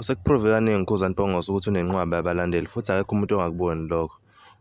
Usekuprove kaningi uKhuzani Mpongose ukuthi unenqwaba yabalandeli futhi akekho umuntu ongakuboni lokho.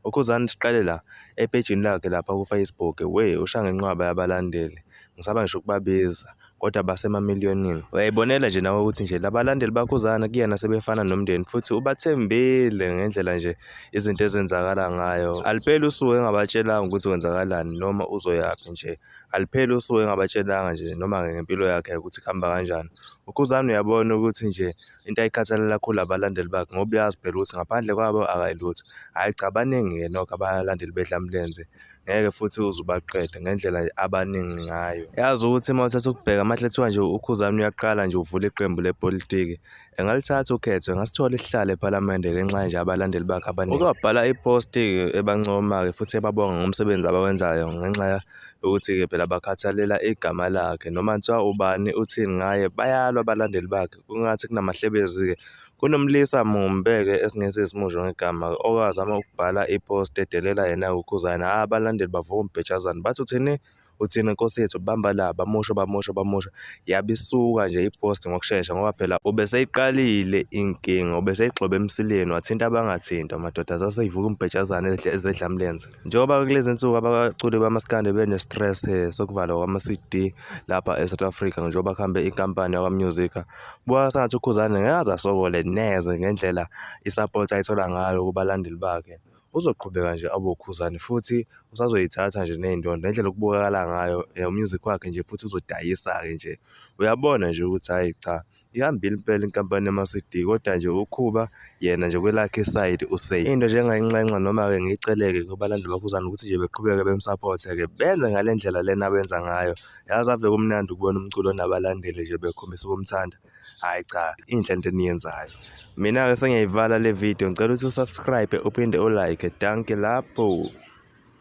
UKhuzani siqale la epejini lakhe lapha ku-Facebook, we usha ngenqwaba yabalandeli. Ngisaba ngisho ukubabiza kodwa basemamiliyonini. Uyayibonela nje nawe ukuthi nje labalandeli baKhuzani kuyena sebefana nomndeni futhi ubathembile ngendlela nje izinto ezenzakala ngayo. Alipeli usuku engabatshelanga ukuthi kwenzakalani noma uzoyaphi nje. alipheli usuke engabatshelanga nje noma ngempilo yakhe ukuthi kuhamba kanjani ukhuzane uyabona ukuthi nje into ayikhathalela kakhulu abalandeli bakhe ngoba uyazi phela ukuthi ngaphandle kwabo akayilutho hhayi cha baningi-ke nokho abalandeli bedlamlenze ngeke futhi uze ubaqede ngendlela abaningi ngayo yazi ukuthi uma uthatha ukubheka amahle kuthiwa nje ukhuzane uyaqala nje uvula iqembu lepolitiki engalithatha ukhetho engasithola isihlalo ephalamende ngenxa nje abalandeli bakhe abaningi uke wabhala iposti ebancoma-ke futhi ebabonga ngomsebenzi abawenzayo ngenxa yokuthi-ke phela bakhathalela igama lakhe noma kuthiwa ubani uthini ngaye bayalwa abalandeli bakhe kungathi kunamahlebezi-ke kunomlisa mumbe-ke esingese simusho ngegama owazama ukubhala iposti edelela yena ukhuzane hhayi abalandeli bavuma ubhejazane bathi uthini uthina nkosi yethu bamba la bamusho bamusho bamusho yabe isuka nje ipost ngokushesha ngoba phela ubeseyiqalile inkinga ubeseyigxobe emsileni wathinta abangathinta amadoda zaseyivuka umbhejazane ezedlamlenze njengoba kulezi nsuku abaculi bamaskande bene-stress eh, sokuvalwa kwama-cd lapha e-south africa njengoba kuhambe inkampani yakwamusica kubona sengathi ukhuzane ngeke aze asokole neze ngendlela isapoti ayithola ngayo kubalandeli bakhe uzoqhubeka nje abe uKhuzani futhi usazoyithatha nje ney'ndondo ngendlela okubukakala ngayo eh, umusic wakhe nje futhi uzodayisa-ke nje uyabona nje ukuthi hhayi cha ihambile impela inkampani yama-cd kodwa nje ukhuba yena nje kwelakhe isayidi usay into nje engayinxenxa noma-ke ngiyiceleke kubalandeli bakhuzana ukuthi nje beqhubeke bemsaphothe-ke benze ngale ndlela lena abenza ngayo yazi ave kumnandi ukubona umculo onabalandeli nje bekhombisa ukumthanda hayi cha inhle into eniyenzayo mina-ke sengiyayivala le video ngicela ukuthi usubscribe uphinde ulike danke lapho